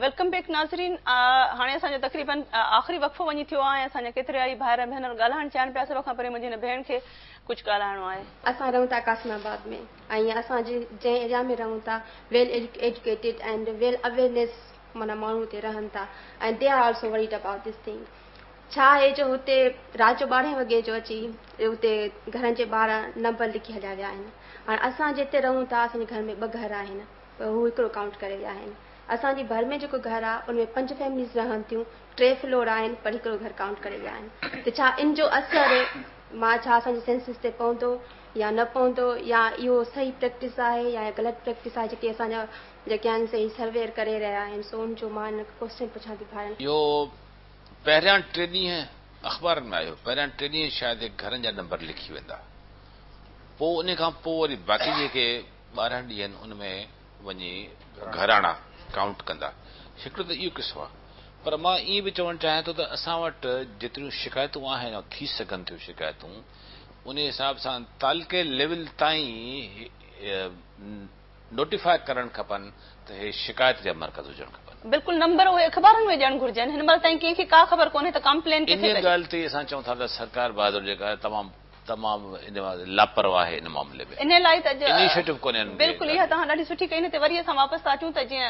Welcome back ناظرين هاڻي اسان جو تقريبن آخري وقفو وڃي ٿيو آهي ۽ اسان جا ڪيترائي ڀائر ۽ ڀينر ڳالهائڻ چاهن پيا سڀ کان پهرين منهنجي هن ڀيڻ کي ڪجهه ڳالهائڻو آهي. اسان رهون ٿا قاسم آباد ۾ ۽ اسان جنهن ايريا ۾ رهون ٿا well educated and well awareness معنيٰ ماڻهو اتي رهن ٿا ۽ they are also worried about this thing. ڇا آهي جو هتي رات جو ٻارهين وڳي جو اچي اتي گهرن جي ٻاهر نمبر لکي هليا ويا آهن. هاڻ اسان جتي رهون ٿا اسان جي گهر ۾ ٻه گهر آهن پر هو هڪڙو ڪائونٽ ڪري ويا آهن. اسان جي ڀر ۾ جيڪو گهر آهي ان ۾ پنج فيمليز رهن ٿيون ٽي فلور آهن پر هڪڙو گهر ڪائونٽ ڪري ويا آهن ته ڇا ان جو اثر مان ڇا اسان جي سينسس تي پوندو يا نه پوندو يا اهو صحيح پريڪٽس آهي يا غلط پريڪٽس آهي جيڪي اسان جا جيڪي آهن سي سرويئر ڪري رهيا آهن سو ان جو مان ڪوسچن پڇان ٿي ڀائرن. اهو پهريان ٽي ڏينهن اخبارن ۾ آيو، پهريان ٽي ڏينهن شايد هڪ گهرن جا نمبر لکي ويندا، پوء انهي کان پوء وري باقي جيڪي ٻارهن ڏينهن ان ۾ وڃي گهراڻا ڪائونٽ ڪندا. هڪڙو ته اهو قصو آهي. پر مان ائين به چوڻ چاهيان ٿو ته اسان وٽ جيتريون شڪايتون آهن يا ٿي سگهن ٿيون شڪايتون انهي حساب سان تعلقي ليول تائين نوٽيفاء ڪرڻ کپن ته هي شڪايت جا مرڪز هجڻ کپن. بلڪل نمبر اهي اخبارن ۾ ڏيڻ گهرجن هن مهل تائين ڪنهن کي ڪا خبر ڪونهي ته ڪامپلين ڪٿي ڪجي. انهي ڳالهه تي اسان چئون ٿا ته سرڪار بهادر جيڪا آهي تمام تمام لاپرواهه آهي ان معاملي ۾ انهي لاء ته اج انيشيٽو ڪونهي انهن کي. بلڪل اها توهان ڏاڍي سٺي ڪئي نه تي وري اسان واپس ٿا اچون ته جيئن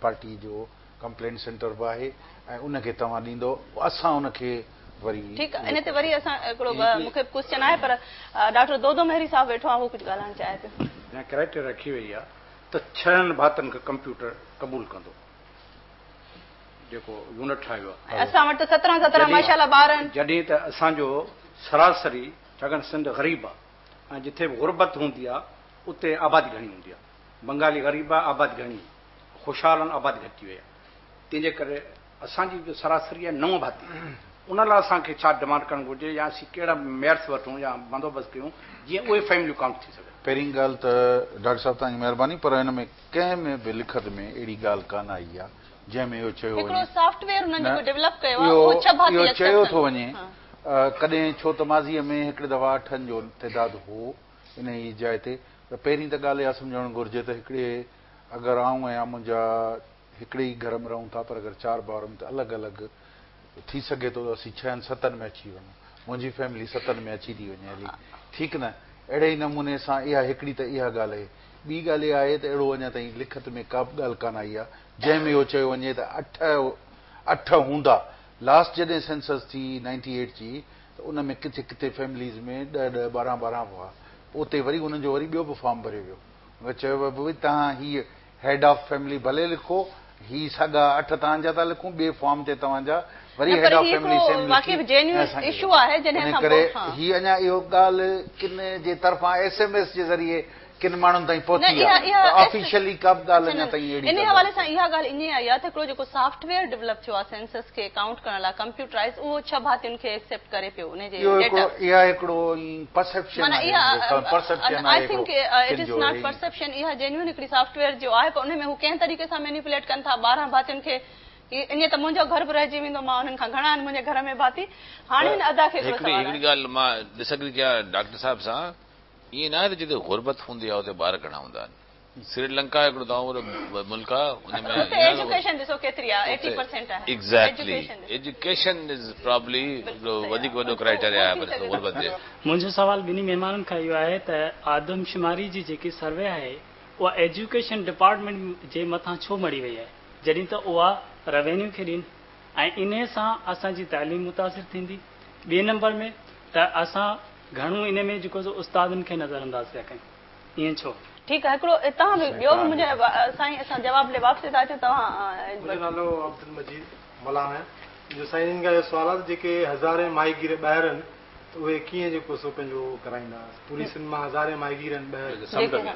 پارٽي جو ڪمپلينٽ سينٽر به آهي ۽ ان کي توهان ڏيندو اسان ان کي وري. ٺيڪ آهي ان تي وري اسان هڪڙو مون کي ڪوسچن آهي پر ڊاڪٽر دودو مهري صاحب ويٺو آهي هو ڪجهه ڳالهائڻ چاهي پيو. جا ڪرائٽيريا رکي وئي آهي ته ڇهن ڀاتن کي ڪمپيوٽر قبول ڪندو جيڪو يونٽ ٺاهيو آهي. ۽ اسان وٽ ته سترهن سترهن ماشاء الله ٻار آهن. جڏهن ته اسان جو سراسري ڇاڪاڻ سنڌ غريب آهي ۽ جتي به غربت هوندي آهي اتي آبادي گهڻي هوندي آهي. بنگالي غريب آ، آباد گهڻي، خوشحال آهن، آباد گهٽ ٿي وئي آ، تنهن جي ڪري اسان جي جو سراسري آهي نو ڀاتي، ان لاء اسان کي ڇا ڊمانڊ ڪرڻ گهرجي يا اسين ڪهڙا ميئرس وٺون يا بندوبست ڪيون جيئن اهي فيمليون ڪائونٽ ٿي سگهن. پهرين ڳالهه ته ڊاڪٽر صاحب توهان جي مهرباني پر هن ۾ ڪنهن ۾ به لکت ۾ اهڙي ڳالهه ڪانه آئي آ جنهن ۾ اهو چيو وڃي، نه اهو چيو ٿو وڃي ڪڏهن ڇو ته ماضيء ۾ هڪڙي دفعا اٺن جو تعداد هو، انهيء جاء تي ته پهرين ته ڳالهه اها سمجهڻ گهرجي ته هڪڙي اگر آئون ۽ منهنجا هڪڙي ئي گهر ۾ رهون ٿا پر اگر چار ڀائرن ته الڳ الڳ ٿي سگهي ٿو ته اسين ڇهن ستن ۾ اچي وڃون. منهنجي فيملي ستن ۾ اچي ٿي وڃي هلي. ٺيڪ نه؟ اهڙي ئي نموني سان اها هڪڙي ته اها ڳالهه اهي. ٻي ڳالهه اها اهي ته اهڙو اڃا تائين لکت ۾ ڪابه ڳالهه ڪانه آئي آهي جنهن ۾ اهو چيو وڃي ته اٺ اٺ هوندا. لاسٽ جڏهن سينسس ٿي نائنٽي ايٽ جي. ته ان ۾ ڪٿي ڪٿي فيمليز ۾ ڏهه ڏهه ٻارهن ٻارهن هئا پوء اتي وري انهن جو وري ٻيو به فارم ڀريو ويو ۽ چيو ويو ڀئي توهان هي هيڊ آف فيملي ڀلي لکو هي ساڳا اٺ توهان جا ٿا لکون ٻئي فارم تي توهان جا وري هيڊ آف فيملي سيم لکي ۽ اسان کي ڏيو ان ڪري هي اڃا اهو ڳالهه ڪن جي طرفان ايس ايم ايس جي ذريعي ڪن ماڻهن تائين پهتي آهي پر آفيشلي ڪا به ڳالهه اڃا تائين اهڙي ڪا ڳالهه ڪانهي. اها ڳالهه ائين آئي آهي ته هڪڙو جيڪو سافٽ ويئر ڊولپ ٿيو آهي سينسس کي ڪائونٽ ڪرڻ لاء ڪمپيوٽرائيز اهو ڇهه ڀاتين کي ايڪسيپٽ ڪري پيو ان جي ڊيٽا. اها هڪڙو ائين پرسيپشن آهي معنيٰ پرسيپشن آهي هڪڙو ڪن جو اهي پرسيپشن اها جينيون هڪڙي سافٽ ويئر جو آهي پر ان ۾ هو ڪنهن طريقي سان مينيپوليٽ ڪن ٿا ٻارهن ڀاتين کي ائين ته منهنجو گهر به رهجي ويندو مان انهن کان گهڻا آهن منهنجي گهر ۾ ڀاتي هاڻي هن ادا کي هڪڙو سوال آهي. هڪڙي ڳالهه مان ڊس اگري ڪيان ڊاڪٽر صاحب سان. ائين ناهي ته جتي غربت هوندي آهي اتي ٻار گهڻا هوندا آهن. سري لنڪا هڪڙو تمام وڏو ملڪ آهي ان ۾ اتي ايجوڪيشن ڏسو ڪيتري آهي ايٽي پرسينٽ آهي ايگزيڪٽلي ايجوڪيشن از پرابلي هڪڙو وڌيڪ وڏو ڪرائيٽيريا آهي پر غربت جي. منهنجو سوال ٻنهي مهمانن کان اهو آهي ته آدمشماري جي جيڪي سروي آهي اها ايجوڪيشن ڊپارٽمينٽ جي مٿان ڇو مڙهي وئي آهي جڏهن ته اها روينيو کي ڏين ۽ انهي سان اسان جي تعليم متاثر ٿيندي ٻئي نمبر ۾ ته اسان گهڻو انهي ۾ جيڪو سو استادن کي نظر انداز پيا ڪيون ائين ڇو؟ ٺيڪ آ هڪڙو اتان به ٻيو به منهنجي سائين اسان جواب ڏي واپسي ٿا اچون توهان منهنجو نالو عبدالمجيد ملاح آهي جو سائين جن کان اهو سوال آهي ته جيڪي هزارين ماهيگير ٻاهر آهن ته اهي ڪيئن جيڪو سو پنهنجو ڪرائيندا پوري سنڌ مان هزارين ماهيگير آهن ٻاهر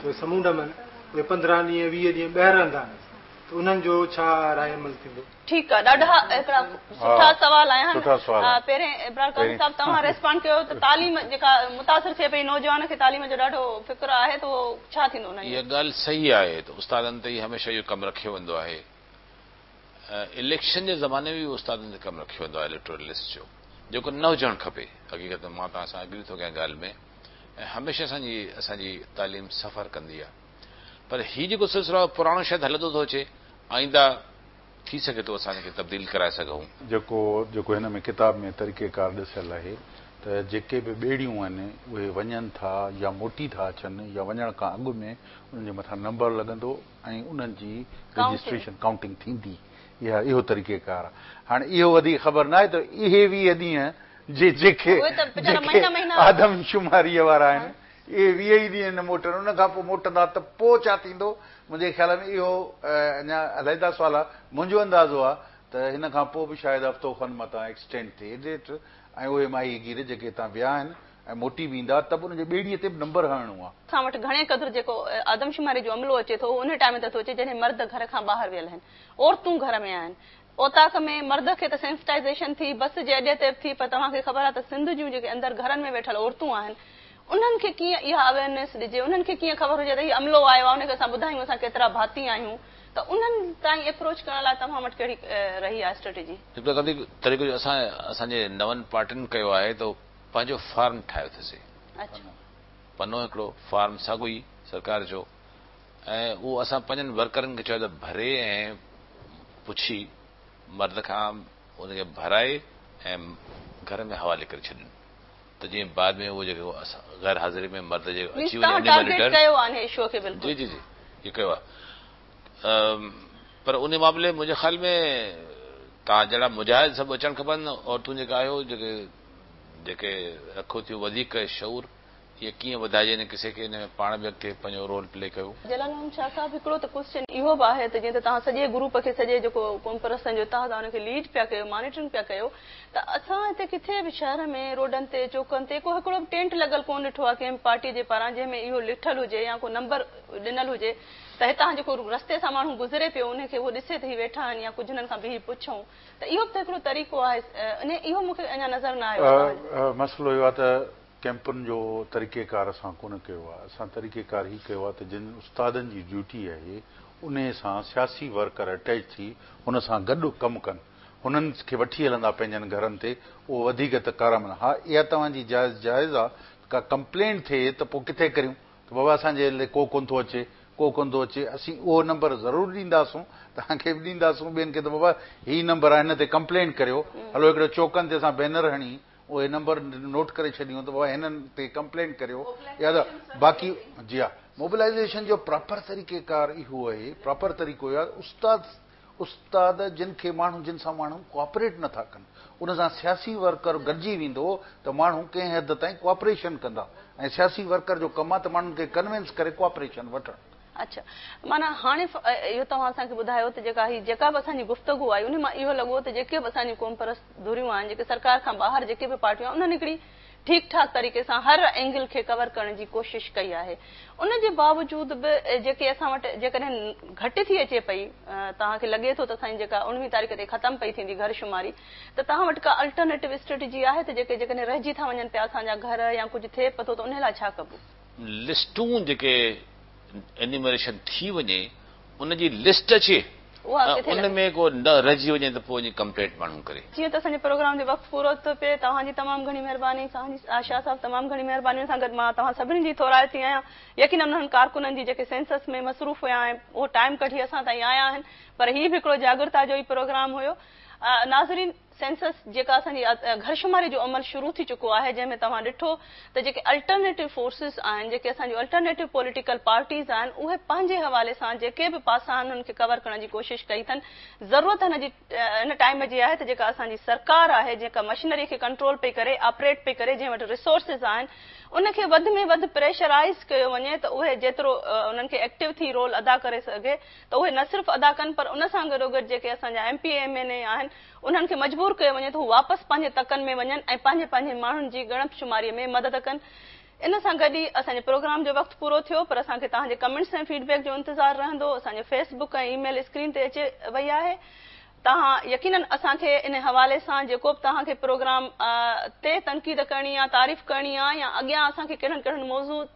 اهي سمونڊ م آهن اهي پندرهن ڏينهن ويهه ڏينهن ٻاهر رهندا آهن ته انهن جو ڇا راء عمل ٿيندو. ٺيڪ آ ڏاڍا هڪڙا سٺا سوال آيا آهن پهرين ابرار قاضي صاحب توهان ريسپانڊ ڪيو ته تعليم جيڪا متاثر ٿئي پئي نوجوان کي تعليم جو ڏاڍو فڪر آهي ته اهو ڇا ٿيندو انهن جو. اها ڳالهه صحيح آهي ته استادن تي ئي هميشه اهو ڪم رکيو ويندو آهي اليڪشن جي زماني ۾ به استادن تي ڪم رکيو ويندو آهي اليڪٽورل لسٽ جو جيڪو نه هجڻ کپي حقيقت مان توهان سان اگري ٿو ڪيان ڳالهه ۾ ۽ هميشه اسان جي اسان جي تعليم سفر ڪندي آهي. پر هي جيڪو سلسلو آهي پراڻو شايد هلندو ٿو اچي آئينده ٿي سگهي ٿو اسان هن کي تبديل ڪرائي سگهون. جيڪو جيڪو هن ۾ ڪتاب ۾ طريقي ڪار ڏسيل آهي ته جيڪي به ٻيڙيون آهن اهي وڃن ٿا يا موٽي ٿا اچن يا وڃڻ کان اڳ ۾ انهن جي مٿان نمبر لڳندو ۽ انهن جي رجسٽريشن ڪائونٽنگ ٿيندي اها اهو طريقي ڪار آهي هاڻي اهو وڌيڪ خبر ناهي ته اهي ويهه ڏينهن جي جيڪي جيڪي آدمشماري وارا آهن. اهي ويهه ئي ڏينهن نه موٽن، ان کان پوء موٽندا ته پوء ڇا ٿيندو؟ منهنجي خيال ۾ اهو اڃا علحده سوال آهي. منهنجو اندازو آهي ته هن کان پوء به شايد هفتو کن متان ايڪسٽينڊ ٿئي. ايڊيٽر، ۽ اهي ماهي گير جيڪي هتان ويا آهن ۽ موٽي به ايندا ته به انهن جي ٻيڙيء تي به نمبر هڻڻو آهي. اسان وٽ گهڻي قدر جيڪو آدمشماري جو عملو اچي ٿو اهو ان ٽائيم تي ٿو اچي جڏهن مرد گهر کان ٻاهر ويل آهن. عورتون گهر ۾ آهن. اوطاق ۾ مرد کي ته سينسٽائيزيشن ٿي، بس جي اڏي تير ٿي پر توهان کي خبر آهي ته سنڌ جون جيڪي اندر گهرن ۾ ويٺل عورتون آهن انهن کي ڪيئن اها اويئرنيس ڏجي، انهن کي ڪيئن خبر هجي ته هي عملو آيو آهي انهن کي اسان ٻڌايون اسان ڪيترا ڀاتي آهيون ته انهن تائين ايپروچ ڪرڻ لاء توهان وٽ ڪهڙي رهي آهي اسٽريٽجي؟ هڪڙو تريقو طريقو جو اسان اسان جي نون پارٽين ڪيو آهي ته پنهنجو فارم ٺاهيو ٿسي. اچ. پنو هڪڙو فارم ساڳو ئي سرڪار جو. ۽ اهو اسان پنهنجن ورڪرن کي چيو ته ڀري ۽ پڇي مرد کان ان کي ڀرائي ۽ گهر ۾ حوالي ڪري ڇڏين ته جيئن بعد ۾ اهو جيڪو غير حاضري ۾ مرد جي اچي وڃي انهي مان لٽر جي جي جي اهو ڪيو آهي پر انهي معاملي ۾ منهنجي خيال ۾ توهان جهڙا مجاهد سڀ اچڻ کپن عورتون جيڪي آهيو جيڪي جيڪي رکو ٿيون وڌيڪ شعور هيء ڪيئن وڌائجي يعني ڪسي کي ان ۾ پاڻ به اڳتي پنهنجو رول پلي ڪيو. جلال محمد شاهه صاحب هڪڙو ته ڪوسچن اهو به آهي ته جيئن ته توهان سڄي گروپ کي سڄي جيڪو قومپرستن جو اتحاد آهي ان کي ليڊ پيا ڪيو مانيٽرنگ پيا ڪيو ته اسان هتي ڪٿي به شهر ۾ روڊن تي چوڪن تي ڪو هڪڙو به ٽينٽ لڳل ڪونه ڏٺو آهي ڪنهن به پارٽي جي پاران جنهن ۾ اهو لکيل هجي يا ڪو نمبر ڏنل هجي ته هتان جيڪو رستي سان ماڻهو گذري پيو ان کي اهو ڏسي ته هي ويٺا آهن يا ڪجهه انهن کان بيهي پڇون ته اهو به ته هڪڙو طريقو آهي ان اهو مون کي اڃا نظر نه آيو آهي توهان جي. مسئلو اهو آهي ته ڪئمپن جو طريقيڪار اسان ڪونه ڪيو آهي، اسان طريقيڪار هي ڪيو آهي ته جن استادن جي ڊيوٽي آهي انهي سان سياسي ورڪر اٽيچ ٿي ان سان گڏ ڪم ڪن، هنن کي وٺي هلندا پنهنجن گهرن تي اهو وڌيڪ ته ڪارامد ها اها توهان جي جائز جائز آهي ته ڪا ڪمپلينٽ ٿئي ته پوء ڪٿي ڪريون ته بابا اسان جي هلي ڪو ڪونه ٿو اچي ڪو ڪونه ٿو اچي اسين اهو نمبر ضرور ڏينداسون توهان کي به ڏينداسون ٻين کي ته بابا هي نمبر آهي هن تي ڪمپلينٽ ڪريو هلو هڪڙو چوڪن تي اسان بينر هڻي اهي نمبر نوٽ ڪري ڇڏيون ته بابا هنن تي ڪمپلينٽ ڪريو يا ته باقي جي ها موبلائيزيشن جو پراپر طريقه ڪار اهو آهي پراپر طريقو يا استاد استاد جن کي ماڻهو جن سان ماڻهو ڪوآپريٽ نٿا ڪن ان سان سياسي ورڪر گڏجي ويندو ته ماڻهو ڪنهن حد تائين ڪوآپريشن ڪندا ۽ سياسي ورڪر جو ڪم آهي ته ماڻهن کي ڪنوينس ڪري ڪوآپريشن وٺڻ اڇا معنيٰ هاڻي اهو توهان اسان کي ٻڌايو ته جيڪا هي جيڪا به اسان جي گفتگو آئي انهي مان اهو لڳو ته جيڪي به اسان جون قومپرست ڌريون آهن جيڪي سرڪار کان ٻاهر جيڪي به پارٽيون آهن انهن هڪڙي ٺيڪ ٺاڪ طريقي سان هر اينگل کي ڪور ڪرڻ جي ڪوشش ڪئي آهي ان جي باوجود به جيڪي اسان وٽ جيڪڏهن گهٽ ٿي اچي پئي توهان کي لڳي ٿو ته اسان جي جيڪا اڻويهين تاريخ تي ختم پئي ٿيندي گهر شماري ته توهان وٽ ڪا الٽرنيٽو اسٽريٽجي آهي ته جيڪي جيڪڏهن رهجي ٿا وڃن پيا اسان جا گهر يا ڪجهه ٿئي پئي ٿو ته انهي لاء ڇا ڪبو. لسٽون جيڪي انيومريشن ٿي وڃي ان جي لسٽ اچي ۽ ان ۾ ڪو نه رهجي وڃي ته پوء ان جي ڪمپلينٽ ماڻهو ڪري. جيئن ته اسان جي پروگرام جو وقت پورو ٿو ٿئي توهان جي تمام گهڻي مهرباني. سائين جي شاهه صاحب تمام گهڻي مهربانين سان گڏ مان توهان سڀني جي ٿورائي ٿي آهيان يقينن انهن ڪارڪنن جي جيڪي سينسس ۾ مصروف هيا ۽ اهو ٽائيم ڪڍي اسان تائين آيا آهن پر هي به هڪڙو جاڳرتا جو ئي پروگرام هيو ناظرين سينسس جيڪا اسان جي گهر شماري جو عمل شروع ٿي چڪو آهي جنهن ۾ توهان ڏٺو ته جيڪي الٽرنيٽو فورسز آهن جيڪي اسان جون الٽرنيٽو پوليٽيڪل پارٽيز آهن اهي پنهنجي حوالي سان جيڪي به پاسا آهن انهن کي ڪور ڪرڻ جي ڪوشش ڪئي اٿن ضرورت هن جي هن ٽائيم جي آهي ته جيڪا اسان جي سرڪار آهي جيڪا مشنري کي ڪنٽرول پئي ڪري آپريٽ پئي ڪري جنهن وٽ ريسورسز آهن ان کي وڌ ۾ وڌ پريشرائيز ڪيو وڃي ته اهي جيترو انهن کي ايڪٽو ٿي رول ادا ڪري سگهي ته اهي نه صرف ادا ڪن پر ان سان گڏوگڏ جيڪي اسان جا M P M N A آهن انهن کي مجبور ڪيو وڃي ته هو واپس پنهنجي تڪن ۾ وڃن ۽ پنهنجي پنهنجي ماڻهن جي ڳڻپ شماري ۾ مدد ڪن ان سان گڏ ئي اسان جي پروگرام جو وقت پورو ٿيو پر اسان کي توهان جي ڪمينٽس ۽ فيڊ بيڪ جو انتظار رهندو اسان جو Facebook ۽ email screen تي اچي وئي آهي توهان يقينن اسان کي ان حوالي سان جيڪو به توهان کي پروگرام تي تنقيد ڪرڻي يا تعريف ڪرڻي يا اڳيان اسان کي ڪهڙن ڪهڙن موضوع